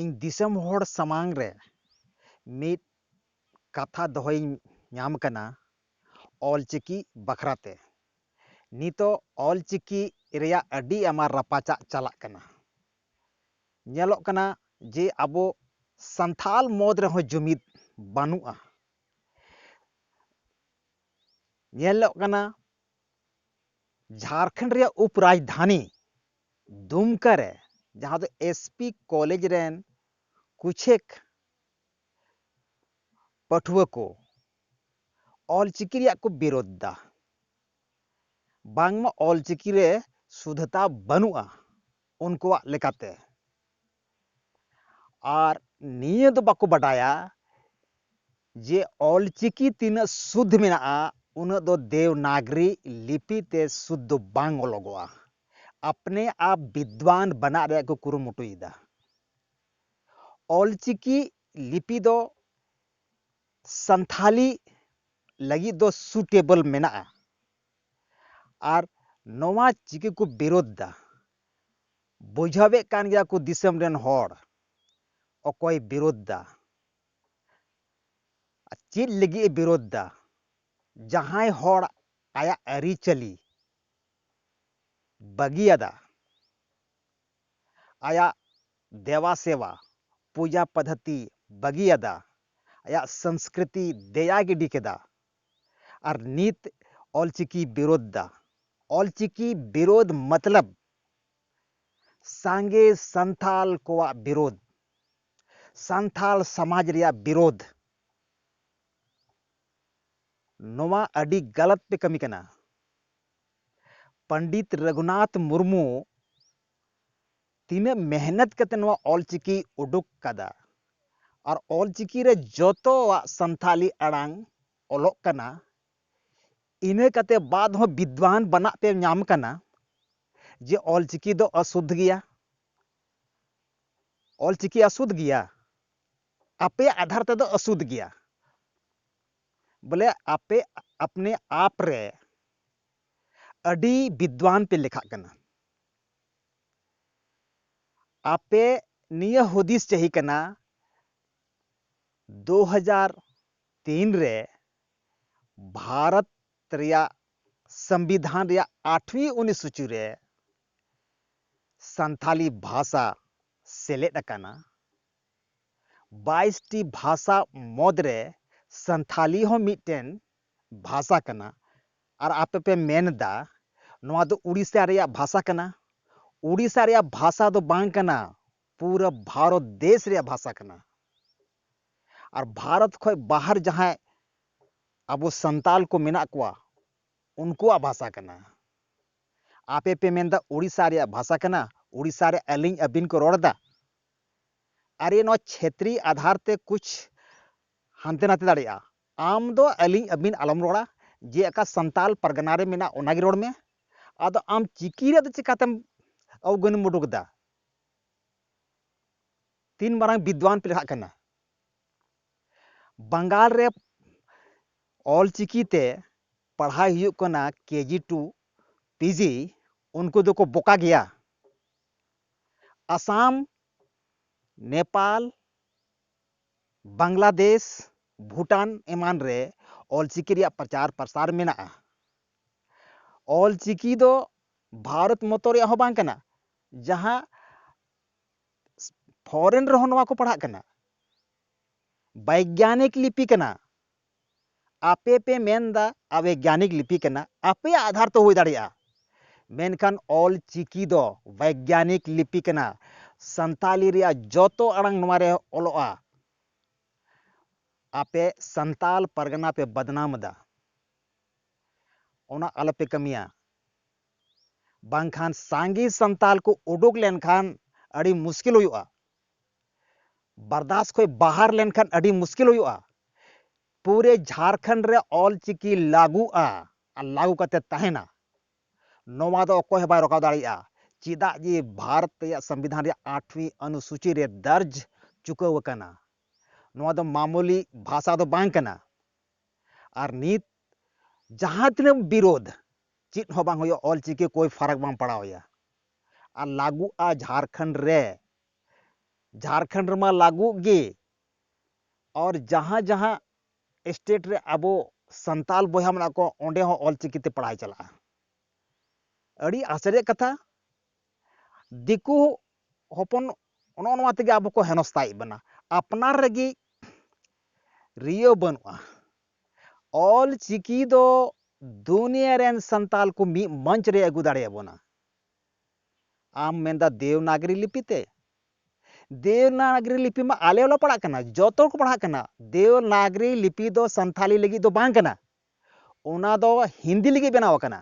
ᱤᱧ ᱫᱤᱥᱚᱢ ᱦᱚᱲ ᱥᱟᱢᱟᱝ ᱨᱮ ᱢᱤᱫ ᱠᱟᱛᱷᱟ ᱫᱚᱦᱚᱭᱤᱧ ᱧᱟᱢ ᱠᱟᱱᱟ ᱚᱞ ᱪᱤᱠᱤ ᱵᱟᱠᱷᱨᱟ ᱛᱮ ᱱᱤᱛᱚᱜ ᱚᱞ ᱪᱤᱠᱤ ᱨᱮᱭᱟᱜ ᱟᱹᱰᱤ ᱟᱭᱢᱟ ᱨᱟᱯᱟᱪᱟᱜ ᱪᱟᱞᱟᱜ ᱠᱟᱱᱟ ᱧᱮᱞᱚᱜ ᱠᱟᱱᱟ ᱡᱮ ᱟᱵᱚ ᱥᱟᱱᱛᱟᱲ ᱢᱩᱫᱽ ᱨᱮᱦᱚᱸ ᱡᱩᱢᱤᱫ ᱵᱟᱹᱱᱩᱜᱼᱟ ᱧᱮᱞᱚᱜ ᱠᱟᱱᱟ ᱡᱷᱟᱲᱠᱷᱚᱸᱰ ᱨᱮᱭᱟᱜ ᱩᱯᱚᱨᱟᱡᱽᱫᱷᱟᱱᱤ ᱫᱩᱢᱠᱟ ᱨᱮ ᱡᱟᱦᱟᱸ ᱫᱚ ᱮᱥ ᱯᱤ ᱠᱚᱞᱮᱡᱽ ᱨᱮᱱ ᱠᱩᱪᱷᱮᱠ ᱯᱟᱹᱴᱷᱩᱣᱟᱹ ᱠᱚ ᱚᱞ ᱪᱤᱠᱤ ᱨᱮᱭᱟᱜ ᱠᱚ ᱵᱤᱨᱳᱫᱷ ᱮᱫᱟ ᱵᱟᱝᱢᱟ ᱚᱞ ᱪᱤᱠᱤ ᱨᱮ ᱥᱩᱫᱷᱚᱛᱟ ᱵᱟᱹᱱᱩᱜᱼᱟ ᱩᱱᱠᱩᱣᱟᱜ ᱞᱮᱠᱟᱛᱮ ᱟᱨ ᱱᱤᱭᱟᱹ ᱫᱚ ᱵᱟᱠᱚ ᱵᱟᱰᱟᱭᱟ ᱡᱮ ᱚᱞᱪᱤᱠᱤ ᱛᱤᱱᱟᱹᱜ ᱥᱩᱫᱽᱫᱷ ᱢᱮᱱᱟᱜᱼᱟ ᱩᱱᱟᱹᱜ ᱫᱚ ᱫᱮᱣᱱᱟᱜᱽᱨᱤ ᱞᱤᱯᱤ ᱛᱮ ᱥᱩᱫᱽᱫᱷ ᱫᱚ ᱵᱟᱝ ᱚᱞᱚᱜᱚᱜᱼᱟ ᱟᱯᱱᱮ ᱟᱯ ᱵᱤᱫᱽᱣᱟᱱ ᱵᱮᱱᱟᱜ ᱨᱮᱭᱟᱜ ᱠᱚ ᱠᱩᱨᱩᱢᱩᱴᱩᱭᱮᱫᱟ ᱚᱞᱪᱤᱠᱤ ᱞᱤᱯᱤ ᱫᱚ ᱥᱟᱱᱛᱷᱟᱞᱤ ᱞᱟᱹᱜᱤᱫ ᱫᱚ ᱥᱩᱴᱮᱵᱚᱞ ᱢᱮᱱᱟᱜᱼᱟ ᱟᱨ ᱱᱚᱣᱟ ᱪᱤᱠᱤ ᱠᱚ ᱵᱤᱨᱳᱫᱷ ᱮᱫᱟ ᱵᱩᱡᱷᱟᱹᱣᱮᱫ ᱠᱟᱱ ᱜᱮᱭᱟ ᱠᱚ ᱫᱤᱥᱚᱢ ᱨᱮᱱ ᱦᱚᱲ ᱚᱠᱚᱭ ᱵᱤᱨᱳᱫᱷ ᱫᱟ ᱪᱮᱫ ᱞᱟᱹᱜᱤᱫ ᱮ ᱵᱤᱨᱳᱫᱷ ᱫᱟ ᱡᱟᱦᱟᱸᱭ ᱦᱚᱲ ᱟᱭᱟᱜ ᱟᱹᱨᱤᱪᱟᱹᱞᱤ ᱵᱟᱹᱜᱤᱭᱟᱫᱟ ᱟᱭᱟᱜ ᱫᱮᱣᱟ ᱥᱮᱣᱟ ᱯᱩᱡᱟ ᱯᱟᱫᱷᱟᱛᱤ ᱵᱟᱹᱜᱤᱭᱟᱫᱟ ᱟᱭᱟᱜ ᱥᱚᱝᱥᱠᱨᱤᱛᱤ ᱫᱮᱭᱟ ᱜᱤᱰᱤ ᱠᱮᱫᱟ ᱟᱨ ᱱᱤᱛ ᱚᱞᱪᱤᱠᱤ ᱵᱤᱨᱳᱫᱷ ᱫᱟ᱾ ᱚᱞᱪᱤᱠᱤ ᱵᱤᱨᱳᱫᱷ ᱢᱚᱛᱞᱚᱵᱽ ᱥᱟᱸᱜᱮ ᱥᱟᱱᱛᱷᱟᱞ ᱠᱚᱣᱟᱜ ᱵᱤᱨᱳᱫᱷ, ᱥᱟᱱᱛᱷᱟᱞ ᱥᱟᱢᱟᱡᱽ ᱨᱮᱭᱟᱜ ᱵᱤᱨᱳᱫᱷ᱾ ᱱᱚᱣᱟ ᱟᱹᱰᱤ ᱜᱟᱞᱟᱛ ᱯᱮ ᱠᱟᱹᱢᱤ ᱠᱟᱱᱟ᱾ ᱯᱚᱸᱰᱤᱛ ᱨᱚᱜᱷᱩᱱᱟᱛᱷ ᱢᱩᱨᱢᱩ ᱛᱤᱱᱟᱹᱜ ᱢᱮᱦᱱᱚᱛ ᱠᱟᱛᱮ ᱱᱚᱣᱟ ᱚᱞ ᱪᱤᱠᱤ ᱩᱰᱩᱠ ᱠᱟᱫᱟ ᱟᱨ ᱚᱞ ᱪᱤᱠᱤ ᱨᱮ ᱡᱚᱛᱚᱣᱟᱜ ᱥᱟᱱᱛᱷᱟᱞᱤ ᱟᱲᱟᱝ ᱚᱞᱚᱜ ᱠᱟᱱᱟ ᱤᱱᱟᱹ ᱠᱟᱛᱮ ᱵᱟᱫ ᱦᱚᱸ ᱵᱤᱫᱽᱣᱟᱱ ᱵᱟᱱᱟᱜ ᱯᱮ ᱧᱟᱢ ᱠᱟᱱᱟ ᱡᱮ ᱚᱞ ᱪᱤᱠᱤ ᱫᱚ ᱚᱥᱩᱫᱷ ᱜᱮᱭᱟ ᱚᱞ ᱪᱤᱠᱤ ᱚᱥᱩᱫᱷ ᱜᱮᱭᱟ ᱟᱯᱮ ᱟᱫᱷᱟᱨ ᱛᱮᱫᱚ ᱚᱥᱩᱫᱷ ᱜᱮᱭᱟ ᱵᱚᱞᱮ ᱟᱯᱮ ᱟᱯᱱᱮ ᱟᱯ ᱨᱮ ᱟᱹᱰᱤ ᱵᱤᱫᱽᱣᱟᱱ ᱯᱮ ᱞᱮᱠᱷᱟᱜ ᱠᱟᱱᱟ ᱟᱯᱮ ᱱᱤᱭᱟᱹ ᱦᱩᱫᱤᱥ ᱪᱟᱹᱦᱤ ᱠᱟᱱᱟ ᱫᱩ ᱦᱟᱡᱟᱨ ᱛᱤᱱ ᱨᱮ ᱵᱷᱟᱨᱚᱛ ᱨᱮᱭᱟᱜ ᱥᱚᱝᱵᱤᱫᱷᱟᱱ ᱨᱮᱭᱟᱜ ᱟᱴᱷᱣᱤ ᱚᱱᱩᱥᱩᱪᱤ ᱨᱮ ᱥᱟᱱᱛᱷᱟᱞᱤ ᱵᱷᱟᱥᱟ ᱥᱮᱞᱮᱫ ᱟᱠᱟᱱᱟ ᱵᱟᱭᱤᱥ ᱴᱤ ᱵᱷᱟᱥᱟ ᱢᱩᱫᱽ ᱨᱮ ᱥᱟᱱᱛᱷᱟᱞᱤ ᱦᱚᱸ ᱢᱤᱫᱴᱮᱱ ᱵᱷᱟᱥᱟ ᱠᱟᱱᱟ ᱟᱨ ᱟᱯᱮ ᱯᱮ ᱢᱮᱱ ᱮᱫᱟ ᱱᱚᱣᱟ ᱫᱚ ᱩᱲᱤᱥᱥᱟ ᱨᱮᱭᱟᱜ ᱵᱷᱟᱥᱟ ᱠᱟᱱᱟ ᱩᱲᱤᱥᱥᱟ ᱨᱮᱭᱟᱜ ᱵᱷᱟᱥᱟ ᱫᱚ ᱵᱟᱝ ᱠᱟᱱᱟ ᱯᱩᱨᱟᱹ ᱵᱷᱟᱨᱚᱛ ᱫᱮᱥ ᱨᱮᱭᱟᱜ ᱵᱷᱟᱥᱟ ᱠᱟᱱᱟ ᱟᱨ ᱵᱷᱟᱨᱚᱛ ᱠᱷᱚᱱ ᱵᱟᱦᱟᱨ ᱡᱟᱦᱟᱸᱭ ᱟᱵᱚ ᱥᱟᱱᱛᱟᱞ ᱠᱚ ᱢᱮᱱᱟᱜ ᱠᱚᱣᱟ ᱩᱱᱠᱩᱣᱟᱜ ᱵᱷᱟᱥᱟ ᱠᱟᱱᱟ ᱟᱯᱮ ᱯᱮ ᱢᱮᱱ ᱮᱫᱟ ᱩᱲᱤᱥᱥᱟ ᱨᱮᱭᱟᱜ ᱵᱷᱟᱥᱟ ᱠᱟᱱᱟ ᱩᱲᱤᱥᱥᱟ ᱨᱮ ᱟᱹᱞᱤᱧ ᱟᱹᱵᱤᱱ ᱠᱚ ᱨᱚᱲ ᱮᱫᱟ ᱟᱨᱮ ᱱᱚᱣᱟ ᱪᱷᱮᱛᱨᱤ ᱟᱫᱷᱟᱨ ᱛᱮ ᱠᱩᱪ ᱦᱟᱱᱛᱮ ᱱᱟᱛᱮ ᱫᱟᱲᱮᱭᱟᱜᱼᱟ ᱟᱢ ᱫᱚ ᱟᱹᱞᱤᱧ ᱟᱹᱵᱤᱱ ᱟᱞᱚᱢ ᱨᱚᱲᱟ ᱡᱮ ᱟᱠᱟ ᱥᱟᱱᱛᱟᱞ ᱯᱟᱨᱜᱟᱱᱟ ᱨᱮ ᱢᱮᱱᱟᱜ ᱚᱱᱟ ᱜᱮ ᱨᱚᱲ ᱢᱮ ᱟᱫᱚ ᱟᱢ ᱪᱤᱠᱤ ᱨᱮᱭᱟᱜ ᱫᱚ ᱪᱤᱠᱟᱹᱛᱮᱢ ᱟᱣᱜᱟᱹᱱᱮᱢ ᱩᱰᱩᱠ ᱮᱫᱟ ᱛᱤᱱ ᱢᱟᱨᱟᱝ ᱵᱤᱫᱽᱣᱟᱱ ᱯᱮ ᱞᱮᱠᱷᱟᱜ ᱠᱟᱱᱟ ᱵᱟᱝᱜᱟᱞ ᱨᱮ ᱚᱞ ᱪᱤᱠᱤ ᱛᱮ ᱯᱟᱲᱦᱟᱣ ᱦᱩᱭᱩᱜ ᱠᱟᱱᱟ ᱠᱮᱡᱤ ᱴᱩ ᱯᱤᱡᱤ ᱩᱱᱠᱩ ᱫᱚᱠᱚ ᱵᱚᱠᱟ ᱜᱮᱭᱟ ᱟᱥᱟᱢ ᱱᱮᱯᱟᱞ ᱵᱟᱝᱞᱟᱫᱮᱥ, ᱵᱷᱩᱴᱟᱱ ᱮᱢᱟᱱ ᱨᱮ ᱚᱞᱪᱤᱠᱤ ᱨᱮᱭᱟᱜ ᱯᱨᱚᱪᱟᱨ ᱯᱨᱚᱥᱟᱨ ᱢᱮᱱᱟᱜᱼᱟ᱾ ᱚᱞᱪᱤᱠᱤ ᱫᱚ ᱵᱷᱟᱨᱚᱛ ᱢᱚᱛᱚ ᱨᱮᱭᱟᱜ ᱦᱚᱸ ᱵᱟᱝ ᱠᱟᱱᱟ ᱡᱟᱦᱟᱸ ᱯᱷᱚᱨᱮᱱ ᱨᱮᱦᱚᱸ ᱱᱚᱣᱟ ᱠᱚ ᱯᱟᱲᱦᱟᱜ ᱠᱟᱱᱟ᱾ ᱵᱟᱭᱜᱟᱱᱤᱠ ᱞᱤᱯᱤ ᱠᱟᱱᱟ᱾ ᱟᱯᱮ ᱯᱮ ᱢᱮᱱ ᱮᱫᱟ ᱟᱵᱮᱜᱽᱭᱟᱱᱤᱠ ᱞᱤᱯᱤ ᱠᱟᱱᱟ ᱟᱯᱮᱭᱟᱜ ᱟᱫᱷᱟᱨ ᱛᱮ ᱦᱩᱭ ᱫᱟᱲᱮᱭᱟᱜᱼᱟ ᱢᱮᱱᱠᱷᱟᱱ ᱚᱞ ᱪᱤᱠᱤ ᱫᱚ ᱵᱮᱜᱽᱭᱟᱱᱤᱠ ᱞᱤᱯᱤ ᱠᱟᱱᱟ ᱥᱟᱱᱛᱟᱞᱤ ᱨᱮᱭᱟᱜ ᱡᱚᱛᱚ ᱟᱲᱟᱝ ᱱᱚᱣᱟ ᱨᱮ ᱚᱞᱚᱜᱼᱟ ᱟᱯᱮ ᱥᱟᱱᱛᱟᱞ ᱯᱟᱨᱜᱟᱱᱟ ᱯᱮ ᱵᱟᱫᱱᱟᱢ ᱮᱫᱟ ᱚᱱᱟ ᱟᱞᱚᱯᱮ ᱠᱟᱹᱢᱤᱭᱟ ᱵᱟᱝᱠᱷᱟᱱ ᱥᱟᱸᱜᱮ ᱥᱟᱱᱛᱟᱞ ᱠᱚ ᱩᱰᱩᱠ ᱞᱮᱱᱠᱷᱟᱱ ᱟᱹᱰᱤ ᱢᱩᱥᱠᱤᱞ ᱦᱩᱭᱩᱜᱼᱟ ᱵᱟᱨᱫᱟᱥ ᱠᱷᱚᱡ ᱵᱟᱦᱟᱨ ᱞᱮᱱᱠᱷᱟᱱ ᱟᱹᱰᱤ ᱢᱩᱥᱠᱤᱞ ᱦᱩᱭᱩᱜᱼᱟ ᱯᱩᱨᱮ ᱡᱷᱟᱨᱠᱷᱚᱸᱰ ᱨᱮ ᱚᱞ ᱪᱤᱠᱤ ᱞᱟᱹᱜᱩᱜᱼᱟ ᱟᱨ ᱞᱟᱹᱜᱩ ᱠᱟᱛᱮ ᱛᱟᱦᱮᱱᱟ ᱱᱚᱣᱟ ᱫᱚ ᱚᱠᱚᱭ ᱦᱚᱸ ᱵᱟᱭ ᱨᱚᱠᱟᱣ ᱫᱟᱲᱮᱭᱟᱜᱼᱟ ᱪᱮᱫᱟᱜ ᱡᱮ ᱵᱷᱟᱨᱚᱛ ᱨᱮᱭᱟᱜ ᱥᱚᱝᱵᱤᱫᱷᱟᱱ ᱨᱮᱭᱟᱜ ᱟᱴᱷᱣᱤ ᱚᱱᱩᱥᱩᱪᱤ ᱨᱮ ᱫᱟᱨᱡᱽ ᱪᱩᱠᱟᱹᱣ ᱟᱠᱟᱱᱟ ᱱᱚᱣᱟ ᱫᱚ ᱢᱟᱢᱩᱞᱤ ᱵᱷᱟᱥᱟ ᱫᱚ ᱵᱟᱝ ᱠᱟᱱᱟ ᱟᱨ ᱱᱤᱛ ᱡᱟᱦᱟᱸ ᱛᱤᱱᱟᱹᱜ ᱵᱤᱨᱳᱫᱷ ᱪᱮᱫ ᱦᱚᱸ ᱵᱟᱝ ᱦᱩᱭᱩᱜᱼᱟ ᱚᱞ ᱪᱤᱠᱤ ᱠᱚᱭ ᱯᱷᱟᱨᱟᱠ ᱵᱟᱝ ᱯᱟᱲᱟᱣ ᱟᱭᱟ ᱟᱨ ᱞᱟᱹᱜᱩᱜᱼᱟ ᱡᱷᱟᱨᱠᱷᱚᱸᱰ ᱨᱮ ᱡᱷᱟᱨᱠᱷᱚᱸᱰ ᱨᱮᱢᱟ ᱞᱟᱹᱜᱩᱜ ᱜᱮ ᱟᱨ ᱡᱟᱦᱟᱸ ᱡᱟᱦᱟᱸ ᱥᱴᱮᱴ ᱨᱮ ᱟᱵᱚ ᱥᱟᱱᱛᱟᱞ ᱵᱚᱭᱦᱟ ᱢᱮᱱᱟᱜ ᱠᱚᱣᱟ ᱚᱸᱰᱮ ᱦᱚᱸ ᱚᱞ ᱪᱤᱠᱤ ᱛᱮ ᱯᱟᱲᱦᱟᱣ ᱪᱟᱞᱟᱜᱼᱟ ᱟᱹᱰᱤ ᱟᱥᱪᱚᱨᱡᱚ ᱠᱟᱛᱷᱟ ᱫᱤᱠᱩ ᱦᱚᱯᱚᱱ ᱱᱚᱜᱼᱚ ᱱᱚᱣᱟ ᱛᱮᱜᱮ ᱟᱵᱚ ᱠᱚ ᱦᱮᱱᱚᱥᱛᱟᱭᱮᱫ ᱵᱚᱱᱟ ᱟᱯᱱᱟᱨ ᱨᱮᱜᱮ ᱨᱤᱭᱟᱹ ᱵᱟᱹᱱᱩᱜᱼᱟ ᱚᱞ ᱪᱤᱠᱤ ᱫᱚ ᱫᱩᱱᱤᱭᱟᱹ ᱨᱮᱱ ᱥᱟᱱᱛᱟᱞ ᱠᱚ ᱢᱤᱫ ᱢᱚᱧᱪ ᱨᱮ ᱟᱹᱜᱩ ᱫᱟᱲᱮᱭᱟᱵᱚᱱᱟ ᱟᱢ ᱢᱮᱱᱫᱟ ᱫᱮᱣᱱᱟᱜᱨᱤ ᱞᱤᱯᱤ ᱛᱮ ᱫᱮᱣᱱᱟᱜᱨᱤ ᱞᱤᱯᱤ ᱢᱟ ᱟᱞᱮ ᱦᱚᱸᱞᱮ ᱯᱟᱲᱦᱟᱜ ᱠᱟᱱᱟ ᱡᱚᱛᱚ ᱠᱚ ᱯᱟᱲᱦᱟᱜ ᱠᱟᱱᱟ ᱫᱮᱣᱱᱟᱜᱨᱤ ᱞᱤᱯᱤ ᱫᱚ ᱥᱟᱱᱛᱷᱟᱞᱤ ᱞᱟᱹᱜᱤᱫ ᱫᱚ ᱵᱟᱝ ᱠᱟᱱᱟ ᱚᱱᱟ ᱫᱚ ᱦᱤᱱᱫᱤ ᱞᱟᱹᱜᱤᱫ ᱵᱮᱱᱟᱣ ᱟᱠᱟᱱᱟ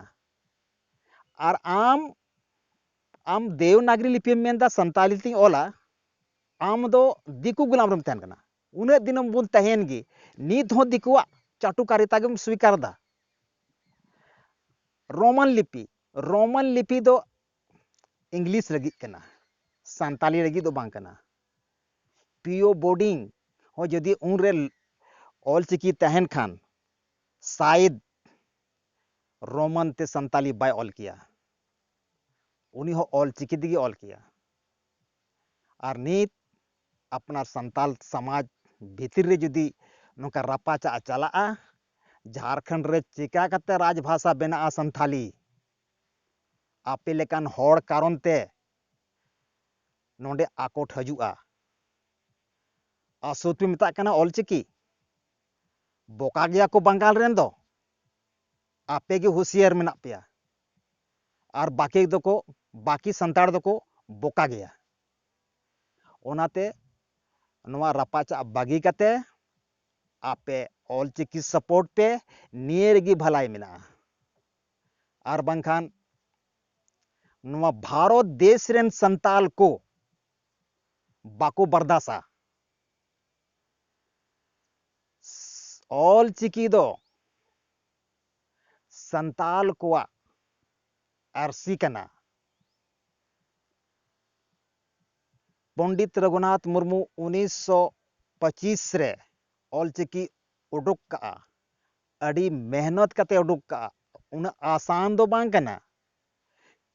ᱟᱨ ᱟᱢ ᱟᱢ ᱫᱮᱣᱱᱟᱜᱨᱤ ᱞᱤᱯᱤᱢ ᱢᱮᱱᱫᱟ ᱥᱟᱱᱛᱟᱞᱤ ᱛᱤᱧ ᱚᱞᱟ ᱟᱢ ᱫᱚ ᱫᱤᱠᱩ ᱜᱩᱞᱟᱢ ᱨᱮᱢ ᱛᱟᱦᱮᱱ ᱠᱟᱱᱟ ᱩᱱᱟᱹᱜ ᱫᱤᱱ ᱵᱚᱱ ᱛᱟᱦᱮᱱ ᱜᱮ ᱱᱤᱛ ᱦᱚᱸ ᱫᱤᱠᱩᱣᱟᱜ ᱪᱟᱴᱩᱠᱟᱨᱤᱛᱟ ᱜᱮᱢ ᱥᱣᱤᱠᱟᱨ ᱮᱫᱟ ᱨᱳᱢᱟᱱ ᱞᱤᱯᱤ ᱨᱳᱢᱟᱱ ᱞᱤᱯᱤ ᱫᱚ ᱤᱝᱞᱤᱥ ᱞᱟᱹᱜᱤᱫ ᱠᱟᱱᱟ ᱥᱟᱱᱛᱟᱞᱤ ᱞᱟᱹᱜᱤᱫ ᱫᱚ ᱵᱟᱝ ᱠᱟᱱᱟ ᱯᱤᱭᱳ ᱵᱳᱰᱤᱝ ᱦᱚᱸ ᱡᱩᱫᱤ ᱩᱱᱨᱮ ᱚᱞᱪᱤᱠᱤ ᱛᱟᱦᱮᱱ ᱠᱷᱟᱱ ᱥᱟᱭᱮᱫ ᱨᱳᱢᱟᱱ ᱛᱮ ᱥᱟᱱᱛᱟᱞᱤ ᱵᱟᱭ ᱚᱞ ᱠᱮᱭᱟ ᱩᱱᱤ ᱦᱚᱸ ᱚᱞᱪᱤᱠᱤ ᱛᱮᱜᱮ ᱚᱞ ᱠᱮᱭᱟ ᱟᱨ ᱱᱤᱛ ᱟᱯᱱᱟᱨ ᱥᱟᱱᱛᱟᱞ ᱥᱟᱢᱟᱡᱽ ᱵᱷᱤᱛᱤᱨ ᱨᱮ ᱡᱩᱫᱤ ᱱᱚᱝᱠᱟ ᱨᱟᱯᱟᱪᱟᱜ ᱪᱟᱞᱟᱜᱼᱟ ᱡᱷᱟᱨᱠᱷᱚᱸᱰ ᱨᱮ ᱪᱮᱠᱟ ᱠᱟᱛᱮ ᱨᱟᱡᱽ ᱵᱷᱟᱥᱟ ᱵᱮᱱᱟᱜᱼᱟ ᱥᱟᱱᱛᱷᱟᱞᱤ ᱟᱯᱮ ᱞᱮᱠᱟᱱ ᱦᱚᱲ ᱠᱟᱨᱚᱱ ᱛᱮ ᱱᱚᱰᱮ ᱟᱠᱚᱴ ᱦᱤᱡᱩᱜᱼᱟ ᱟᱥᱚᱛ ᱯᱮ ᱢᱮᱛᱟᱜ ᱠᱟᱱᱟ ᱚᱞᱪᱤᱠᱤ ᱵᱚᱠᱟ ᱜᱮᱭᱟ ᱠᱚ ᱵᱟᱝᱜᱟᱞ ᱨᱮᱱ ᱫᱚ ᱟᱯᱮ ᱜᱮ ᱦᱩᱥᱤᱭᱟᱨ ᱢᱮᱱᱟᱜ ᱯᱮᱭᱟ ᱟᱨ ᱵᱟᱠᱤ ᱫᱚᱠᱚ ᱵᱟᱠᱤ ᱥᱟᱱᱛᱟᱲ ᱫᱚᱠᱚ ᱵᱚᱠᱟ ᱜᱮᱭᱟ ᱚᱱᱟᱛᱮ ᱱᱚᱣᱟ ᱨᱟᱯᱟᱪᱟᱜ ᱵᱟᱹᱜᱤ ᱠᱟᱛᱮ ᱟᱯᱮ ᱚᱞ ᱪᱤᱠᱤ ᱥᱟᱯᱳᱨᱴ ᱯᱮ ᱱᱤᱭᱟᱹ ᱨᱮᱜᱮ ᱵᱷᱟᱞᱟᱭ ᱢᱮᱱᱟᱜᱼᱟ ᱟᱨ ᱵᱟᱝᱠᱷᱟᱱ ᱱᱚᱣᱟ ᱵᱷᱟᱨᱚᱛ ᱫᱮᱥ ᱨᱮᱱ ᱥᱟᱱᱛᱟᱞ ᱠᱚ ᱵᱟᱠᱚ ᱵᱟᱨᱫᱟᱥᱟ ᱚᱞ ᱪᱤᱠᱤ ᱫᱚ ᱥᱟᱱᱛᱟᱞ ᱠᱚᱣᱟᱜ ᱟᱹᱨᱥᱤ ᱠᱟᱱᱟ ᱯᱚᱱᱰᱤᱛ ᱨᱚᱜᱷᱩᱱᱟᱛᱷ ᱢᱩᱨᱢᱩ ᱩᱱᱤᱥ ᱥᱚ ᱯᱚᱸᱪᱤᱥ ᱨᱮ ᱚᱞ ᱪᱤᱠᱤ ᱩᱰᱩᱠ ᱠᱟᱜᱼᱟ ᱟᱹᱰᱤ ᱢᱮᱦᱱᱚᱛ ᱠᱟᱛᱮ ᱩᱰᱩᱠ ᱠᱟᱜᱼᱟ ᱩᱱᱟᱹᱜ ᱟᱥᱟᱱ ᱫᱚ ᱵᱟᱝ ᱠᱟᱱᱟ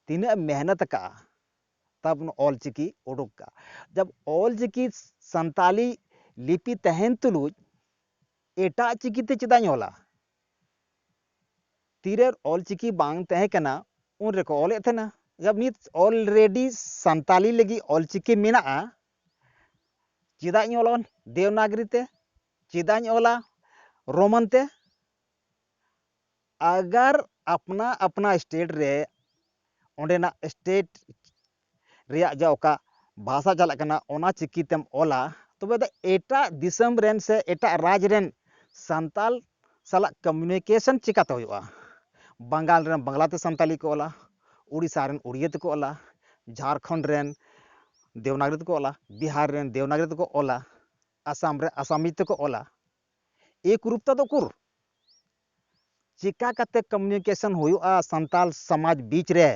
ᱛᱤᱱᱟᱹᱜ ᱢᱮᱦᱱᱚᱛ ᱠᱟᱜᱼᱟ ᱛᱟᱵ ᱚᱞ ᱪᱤᱠᱤ ᱩᱰᱩᱠ ᱠᱟᱜᱼᱟ ᱡᱟᱵ ᱚᱞ ᱪᱤᱠᱤ ᱥᱟᱱᱛᱟᱞᱤ ᱞᱤᱯᱤ ᱛᱟᱦᱮᱱ ᱛᱩᱞᱩᱡ ᱮᱴᱟᱜ ᱪᱤᱠᱤᱛᱮ ᱪᱮᱫᱟᱜ ᱤᱧ ᱚᱞᱟ ᱛᱤᱨᱮ ᱚᱞᱪᱤᱠᱤ ᱵᱟᱝ ᱛᱟᱦᱮᱸ ᱠᱟᱱᱟ ᱩᱱ ᱨᱮᱠᱚ ᱚᱞᱮᱫ ᱛᱟᱦᱮᱱᱟ ᱡᱟᱵ ᱱᱤᱛ ᱚᱞᱨᱮᱰᱤ ᱥᱟᱱᱛᱟᱞᱤ ᱞᱟᱹᱜᱤᱫ ᱚᱞᱪᱤᱠᱤ ᱢᱮᱱᱟᱜᱼᱟ ᱪᱮᱫᱟᱜ ᱤᱧ ᱚᱞᱟ ᱫᱮᱣᱱᱟᱜᱽᱨᱤ ᱛᱮ ᱪᱮᱫᱟᱜ ᱤᱧ ᱚᱞᱟ ᱨᱳᱢᱟᱱ ᱛᱮ ᱟᱜᱟᱨ ᱟᱯᱱᱟ ᱟᱯᱱᱟ ᱥᱴᱮᱴ ᱨᱮ ᱚᱸᱰᱮᱱᱟᱜ ᱥᱴᱮᱴ ᱨᱮᱭᱟᱜ ᱡᱟ ᱚᱠᱟ ᱵᱷᱟᱥᱟ ᱪᱟᱞᱟᱜ ᱠᱟᱱᱟ ᱚᱱᱟ ᱪᱤᱠᱤ ᱛᱮᱢ ᱚᱞᱟ ᱛᱚᱵᱮ ᱫᱚ ᱮᱴᱟᱜ ᱫᱤᱥᱚᱢ ᱨᱮᱱ ᱥᱮ ᱮᱴᱟᱜ ᱨᱟᱡᱽ ᱨᱮᱱ ᱥᱟᱱᱛᱟᱞ ᱥᱟᱞᱟᱜ ᱠᱚᱢᱤᱭᱩᱱᱤᱠᱮᱥᱚᱱ ᱪᱤᱠᱟᱹᱛᱮ ᱦᱩᱭᱩᱜᱼᱟ ᱵᱟᱝᱜᱟᱞ ᱨᱮᱱ ᱵᱟᱝᱞᱟ ᱛᱮ ᱥᱟᱱᱛᱟᱲᱤ ᱠᱚ ᱚᱞᱟ ᱳᱰᱤᱥᱟ ᱨᱮᱱ ᱳᱰᱤᱭᱟᱹ ᱛᱮᱠᱚ ᱚᱞᱟ ᱡᱷᱟᱲᱠᱷᱚᱸᱰ ᱨᱮᱱ ᱫᱮᱵᱽᱱᱟᱜᱚᱨᱤ ᱛᱮᱠᱚ ᱚᱞᱟ ᱵᱤᱦᱟᱨ ᱨᱮᱱ ᱫᱮᱵᱽᱱᱟᱜᱚᱨᱤ ᱛᱮᱠᱚ ᱚᱞᱟ ᱟᱥᱟᱢ ᱨᱮ ᱟᱥᱟᱢᱤ ᱛᱮᱠᱚ ᱚᱞᱟ ᱮᱠ ᱨᱩᱯ ᱛᱮᱫᱚ ᱩᱠᱩᱨ ᱪᱤᱠᱟ ᱠᱟᱛᱮ ᱠᱚᱢᱤᱭᱩᱱᱤᱠᱮᱥᱚᱱ ᱦᱩᱭᱩᱜᱼᱟ ᱥᱟᱱᱛᱟᱞ ᱥᱚᱢᱟᱡᱽ ᱵᱤᱪ ᱨᱮ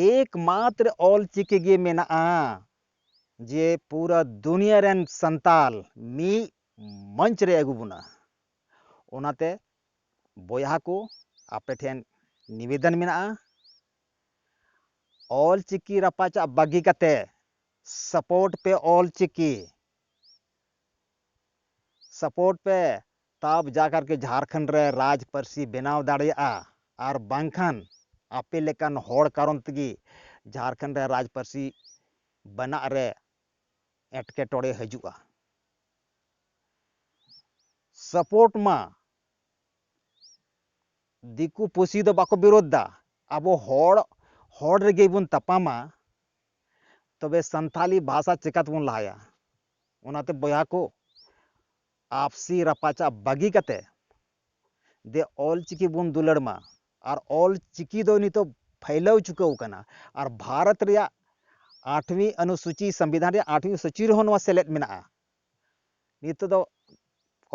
ᱮᱠᱢᱟᱛᱨᱚ ᱚᱞᱪᱤᱠᱤ ᱜᱮ ᱢᱮᱱᱟᱜᱼᱟ ᱡᱮ ᱯᱩᱨᱟᱹ ᱫᱩᱱᱤᱭᱟᱹ ᱨᱮᱱ ᱥᱟᱱᱛᱟᱞ ᱢᱤᱫ ᱢᱚᱧᱪ ᱨᱮ ᱟᱹᱜᱩ ᱵᱚᱱᱟ ᱚᱱᱟᱛᱮ ᱵᱚᱭᱦᱟ ᱠᱚ ᱟᱯᱮ ᱴᱷᱮᱱ ᱱᱤᱵᱮᱫᱚᱱ ᱢᱮᱱᱟᱜᱼᱟ ᱚᱞᱪᱤᱠᱤ ᱨᱟᱯᱟᱪᱟᱜ ᱵᱟᱹᱜᱤ ᱠᱟᱛᱮ ᱥᱟᱯᱳᱨᱴ ᱯᱮ ᱚᱞᱪᱤᱠᱤ ᱥᱟᱯᱳᱨᱴ ᱯᱮ ᱛᱟᱵ ᱡᱟᱠᱟᱨ ᱠᱤ ᱡᱷᱟᱨᱠᱷᱚᱸᱰ ᱨᱮ ᱨᱟᱡᱽ ᱯᱟᱹᱨᱥᱤ ᱵᱮᱱᱟᱣ ᱫᱟᱲᱮᱭᱟᱜᱼᱟ ᱟᱨ ᱵᱟᱝᱠᱷᱟᱱ ᱟᱯᱮ ᱞᱮᱠᱟᱱ ᱦᱚᱲ ᱠᱟᱨᱚᱱ ᱛᱮᱜᱮ ᱡᱷᱟᱨᱠᱷᱚᱸᱰ ᱨᱮ ᱨᱟᱡᱽ ᱯᱟᱹᱨᱥᱤ ᱵᱮᱱᱟᱜ ᱨᱮ ᱮᱴᱠᱮᱴᱚᱬᱮ ᱦᱤᱡᱩᱜᱼᱟ᱾ ᱥᱟᱯᱳᱨᱴ ᱢᱟ ᱫᱤᱠᱩ ᱯᱩᱥᱤ ᱫᱚ ᱵᱟᱠᱚ ᱵᱤᱨᱳᱫᱷ ᱮᱫᱟ ᱟᱵᱚ ᱦᱚᱲ ᱦᱚᱲ ᱨᱮᱜᱮ ᱵᱚᱱ ᱛᱟᱯᱟᱢᱟ ᱛᱚᱵᱮ ᱥᱟᱱᱛᱷᱟᱞᱤ ᱵᱷᱟᱥᱟ ᱪᱮᱠᱟᱛᱮᱵᱚᱱ ᱞᱟᱦᱟᱭᱟ ᱚᱱᱟᱛᱮ ᱵᱚᱭᱦᱟ ᱠᱚ ᱟᱯᱥᱤ ᱨᱟᱯᱟᱪᱟᱜ ᱵᱟᱹᱜᱤ ᱠᱟᱛᱮ ᱫᱮ ᱚᱞ ᱪᱤᱠᱤ ᱵᱚᱱ ᱫᱩᱞᱟᱹᱲ ᱢᱟ ᱟᱨ ᱚᱞ ᱪᱤᱠᱤ ᱫᱚ ᱱᱤᱛᱚᱜ ᱯᱷᱟᱹᱭᱞᱟᱹᱣ ᱪᱩᱠᱟᱹᱣ ᱟᱠᱟᱱᱟ ᱟᱨ ᱵᱷᱟᱨᱚᱛ ᱨᱮᱭᱟᱜ ᱟᱴᱷᱣᱤ ᱟᱱᱩᱥᱩᱪᱤ ᱥᱚᱝᱵᱤᱫᱷᱟᱱ ᱨᱮᱭᱟᱜ ᱟᱴᱷᱣᱤ ᱥᱩᱪᱤ ᱨᱮᱦᱚᱸ ᱱᱚᱣᱟ ᱥᱮᱞᱮᱫ ᱢᱮᱱᱟᱜᱼᱟ ᱱᱤᱛᱚᱜ ᱫᱚ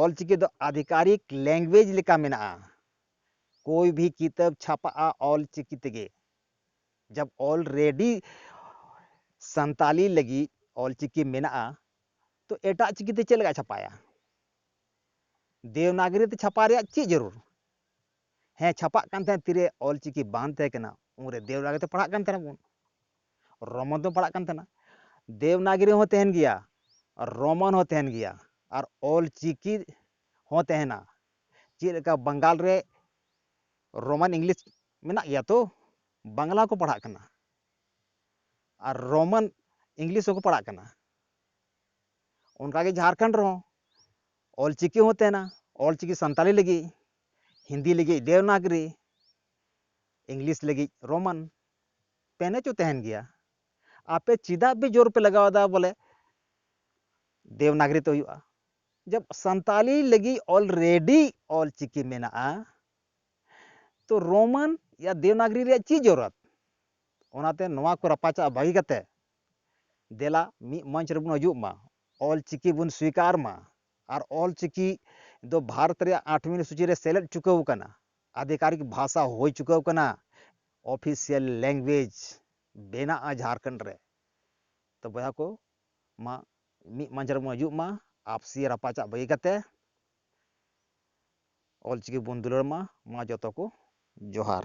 ᱚᱞ ᱪᱤᱠᱤ ᱫᱚ ᱟᱫᱷᱤᱠᱟᱨᱤᱠ ᱞᱮᱝᱜᱩᱭᱮᱡᱽ ᱞᱮᱠᱟ ᱢᱮᱱᱟᱜᱼᱟ ᱠᱳᱭ ᱵᱷᱤ ᱠᱤᱛᱟᱹᱵ ᱪᱷᱟᱯᱟᱜᱼᱟ ᱚᱞ ᱪᱤᱠᱤ ᱛᱮᱜᱮ ᱡᱟᱵ ᱚᱞ ᱨᱮᱰᱤ ᱥᱟᱱᱛᱟᱞᱤ ᱞᱟᱹᱜᱤᱫ ᱚᱞ ᱪᱤᱠᱤ ᱢᱮᱱᱟᱜᱼᱟ ᱛᱚ ᱮᱴᱟᱜ ᱪᱤᱠᱤᱛᱮ ᱪᱮᱫ ᱞᱮᱠᱟ ᱪᱷᱟᱯᱟᱭᱟ ᱫᱮᱣᱱᱟᱜᱨᱤ ᱛᱮ ᱪᱷᱟᱯᱟ ᱨᱮᱭᱟᱜ ᱪᱮᱫ ᱡᱟᱹᱨᱩᱲ ᱦᱮᱸ ᱪᱷᱟᱯᱟᱜ ᱠᱟᱱ ᱛᱟᱦᱮᱸᱫ ᱛᱤᱨᱮ ᱚᱞ ᱪᱤᱠᱤ ᱵᱟᱝ ᱛᱟᱦᱮᱸ ᱠᱟᱱᱟ ᱩᱱᱨᱮ ᱫᱮᱣᱱᱟᱜᱨᱤ ᱛᱮ ᱯᱟᱲᱦᱟᱜ ᱠᱟᱱ ᱛᱟᱦᱮᱱᱟ ᱵᱚᱱ ᱨᱚᱢᱚᱱ ᱛᱮ ᱯᱟᱲᱦᱟᱜ ᱠᱟᱱ ᱛᱟᱦᱮᱱᱟ ᱫᱮᱣᱱᱟᱜᱨᱤ ᱦᱚᱸ ᱛᱟᱦᱮᱱ ᱜᱮᱭᱟ ᱨᱚᱢᱚᱱ ᱦᱚᱸ ᱛᱟᱦᱮᱱ ᱜᱮᱭᱟ ᱟᱨ ᱚᱞ ᱪᱤᱠᱤ ᱦᱚᱸ ᱛᱟᱦᱮᱱᱟ ᱪᱮᱫ ᱞᱮᱠᱟ ᱵᱟᱝᱜᱟᱞ ᱨᱮ ᱨᱳᱢᱟᱱ ᱤᱝᱞᱤᱥ ᱢᱮᱱᱟᱜ ᱜᱮᱭᱟ ᱛᱚ ᱵᱟᱝᱞᱟ ᱠᱚ ᱯᱟᱲᱦᱟᱜ ᱠᱟᱱᱟ ᱟᱨ ᱨᱳᱢᱟᱱ ᱤᱝᱞᱤᱥ ᱦᱚᱸᱠᱚ ᱯᱟᱲᱦᱟᱜ ᱠᱟᱱᱟ ᱚᱱᱠᱟᱜᱮ ᱡᱷᱟᱲᱠᱷᱚᱸᱰ ᱨᱮᱦᱚᱸ ᱚᱞ ᱪᱤᱠᱤ ᱦᱚᱸ ᱛᱟᱦᱮᱱᱟ ᱚᱞ ᱪᱤᱠᱤ ᱥᱟᱱᱛᱟᱲᱤ ᱞᱟᱹᱜᱤᱫ ᱦᱤᱱᱫᱤ ᱞᱟᱹᱜᱤᱫ ᱫᱮᱣᱱᱟᱜᱽᱨᱤ ᱤᱝᱞᱤᱥ ᱞᱟᱹᱜᱤᱫ ᱨᱳᱢᱟᱱ ᱯᱮᱱ ᱦᱚᱪᱚ ᱛᱟᱦᱮᱱ ᱜᱮᱭᱟ ᱟᱯᱮ ᱪᱮᱫᱟᱜ ᱯᱮ ᱡᱳᱨ ᱯᱮ ᱞᱟᱜᱟᱣᱫᱟ ᱵᱚᱞᱮ ᱫᱮᱣᱱᱟᱜᱽᱨᱤ ᱛᱮ ᱦᱩᱭᱩᱜᱼᱟ ᱡᱚᱵ ᱥᱟᱱᱛᱟᱲᱤ ᱞᱟᱹᱜᱤᱫ ᱚᱞᱨᱮᱰᱤ ᱚᱞ ᱪᱤᱠᱤ ᱢᱮᱱᱟᱜᱼᱟ ᱛᱚ ᱨᱳᱢᱟᱱ ᱭᱟ ᱫᱮᱣᱱᱟᱜᱽᱨᱤ ᱨᱮᱭᱟᱜ ᱪᱮᱫ ᱡᱚᱨᱩᱨᱟᱛ ᱚᱱᱟᱛᱮ ᱱᱚᱣᱟ ᱠᱚ ᱨᱟᱯᱟᱪᱟᱜ ᱵᱟᱹᱜᱤ ᱠᱟᱛᱮ ᱫᱮᱞᱟ ᱢᱤᱫ ᱢᱚᱧᱪ ᱨᱮᱵᱚᱱ ᱦᱤᱡᱩᱜ ᱢᱟ ᱚᱞ ᱪᱤᱠᱤ ᱵᱚᱱ ᱥᱤᱠᱟᱨ ᱢᱟ ᱟᱨ ᱚᱞ ᱪᱤᱠᱤ ᱫᱚ ᱵᱷᱟᱨᱚᱛ ᱨᱮᱭᱟᱜ ᱟᱴ ᱢᱤᱱᱤᱴ ᱥᱩᱪᱤ ᱨᱮ ᱥᱮᱞᱮᱫ ᱪᱩᱠᱟᱹᱣ ᱟᱠᱟᱱᱟ ᱟᱫᱷᱤᱠᱟᱨᱤᱠ ᱵᱷᱟᱥᱟ ᱦᱩᱭ ᱪᱩᱠᱟᱹᱣ ᱟᱠᱟᱱᱟ ᱚᱯᱷᱤᱥᱤᱭᱟᱞ ᱞᱮᱝᱜᱩᱭᱮᱡᱽ ᱵᱮᱱᱟᱜᱼᱟ ᱡᱷᱟᱲᱠᱷᱚᱸᱰ ᱨᱮ ᱛᱚ ᱵᱚᱭᱦᱟ ᱠᱚ ᱢᱟ ᱢᱤᱫ ᱢᱚᱧᱪ ᱨᱮᱵᱚᱱ ᱦᱤᱡᱩᱜ ᱢᱟ ᱟᱯᱥᱤ ᱨᱟᱯᱟᱪᱟᱜ ᱵᱟᱹᱜᱤ ᱠᱟᱛᱮ ᱚᱞ ᱪᱤᱠᱤ ᱵᱚᱱ ᱫᱩᱞᱟᱹᱲ ᱢᱟ ᱢᱟ ᱡᱚᱛᱚ ᱠᱚ ᱡᱚᱦᱟᱨ